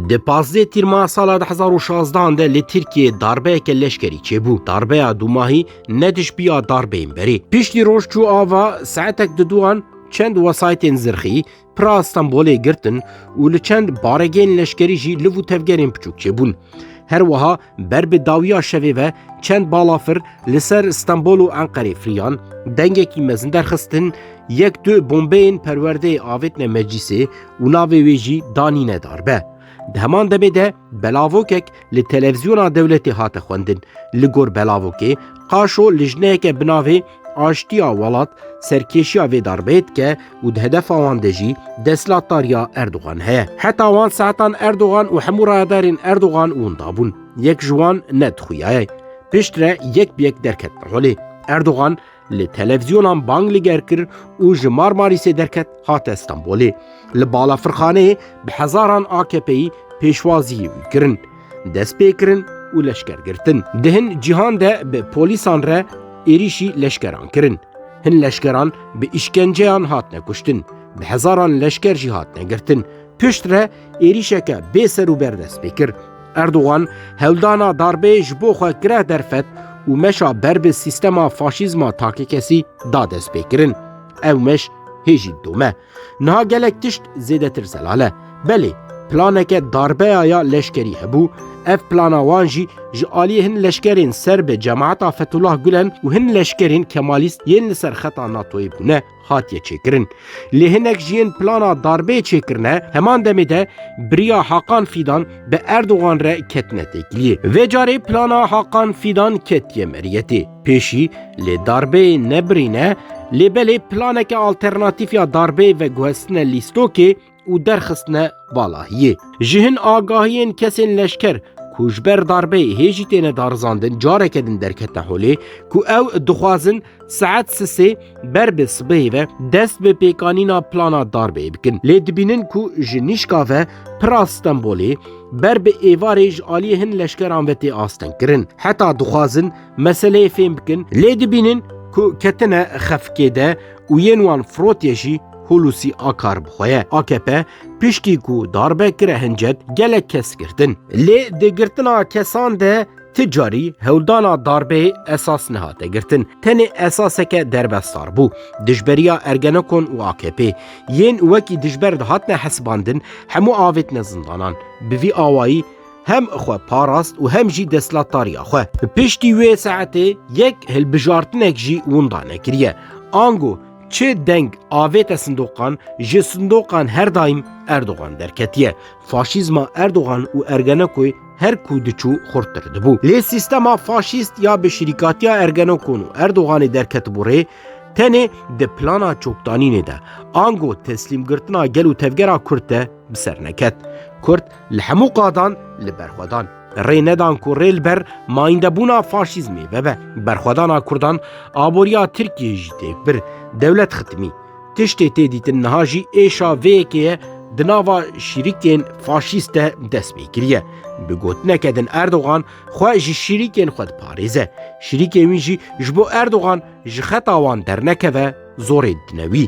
Di pazdeh tîrma sala di hezar û şazdan de li Tirkiyeyê darbeyeke leşkerî çêbû. Darbeya dûmahî ne dijbiya darbeyên berê. Piştî roj çû ava saetek di duan çend wesaytên zirxî pira Stenbolê girtin û li çend baregên leşkerî jî liv û tevgerên biçûk çêbûn. Her wiha Ber bi dawiya şevê ve çend balafir li ser Stenbol û Enqerê firiyan, dengekî mezin derxistin, yek du bombeyên perwerdeyê avêtine meclîsê û navê wê jî danîne darbe. Di heman demê de belavokek li televîzyona dewletê hate xwendin. Li gor belavokê qaşo lijneyeke bi navê Aştiya welat serkêşiya vê darbeyê dike û di hedefa wan de jî destlatdariya Erdogan heye. Heta wan saetan Erdogan û hemû rayedarên Erdogan winda bûn. Yek ji wan ne dixuyaye. Pişt re yek bi yek derketin holê. Erdogan li televizyonan bang li ger kir û ji Marmarîsê derket hate Stenbolê. Li balafirxaneyê bi hezaran AKP'yî pêşwaziyê wî kirin. destpêkirin û leşkergirtin. Di hin cîhan de bi polîsan re êrîşî leşkeran kirin. Hin leşkeran bi îşkenceyan hatine kuştin, bi hezaran leşker jî hatine girtin. Pişt re êrîşeke bê ser û ber dest pê kir. Erdogan hewldana darbeyê ji bo xwe gireh derfet û meşa ber bi sîstema faşîzma takekkesî da destpêkirin. Ew meş hê jî dome. Niha gelek tişt zêdetir zelal e. Belê, planeke darbeya ya leşkerî hebû, ev plana wan jî ji aliyê hin leşkerên ser bi cemaeta Fetullah Gulen û hin leşkerên Kemalîst yên li ser xeta NATO'yê bûne hatiye çêkirin. Lê hinek ji yên plana darbeyê çêkirine heman demê de biriya Hakan Fîdan bi Erdogan re ketine têkiliyê. Vê carê plana Hakan Fîdan ketiye meriyetê. Pêşî lê darbê nebirîne lê belê planeke alternatîf ya darbê veguhestine lîstokê û derxistine valahiyê. Ji hin agahiyên kesên leşker ku ji ber darbê hê jî têne darizandin careke din derketine holê ku ew dixwazin saet sisê ber bi sibehê ve dest bi pêkanîna plana darbê bikin. Lê dibînin ku ji nîşka ve pira Stenbolê ber bi êvarê ji aliyê hin leşkeran ve tê astengkirin. Heta dixwazin Meseleyê fêm bikin lê dibînin ku ketine xefikê de û yên wan firotiye jî Hulusî Akar bi xwe ye. AKP piştî ku darbe kire hincet gelek kes girtin. Lê di girtina kesan de ti carî hewldana darbeyê esas nehate girtin. Tenê esaseke derbesdar bû. Dijberiya Ergenekon û AKP. Yên wekî dijber dihatine hesibandin hemû avêtine zindanan. Bi vî awayî hem xwe parast û hem jî destlatdariya xwe. Bi piştî wê saetê yek hilbijartinek jî winda nekiriye. Ango çi deng avête sindoqan, ji sindoqan her daîm Erdogan derketiye. Faşîzma Erdogan û Ergenekoy her ku diçû xurttir dibû. Lê sîstema faşîst ya bi şirîkatiya Ergenekon û Erdoganê derketibû rê, tenê di plana çokdanînê de, ango teslîmgirtina gel û tevgera Kurd de bi ser neket. Kurd Li hemû qadan li ber xwe dan. Rê nedan ku rê li ber mayîndebûna faşîzmê vebe. Berxwedana Kurdan aboriya Tirkiyeyê jî têk bir. Dewlet xitimî. Tiştê tê dîtin niha jî êşa vê yekê ye di nava şîrikên faşîst de dest pê kiriye. Bi gotineke din Erdogan xwe ji şîrikên xwe diparêze. Şîrikên wî jî ji bo Erdogan ji xeta wan dernekeve zorê didine wî.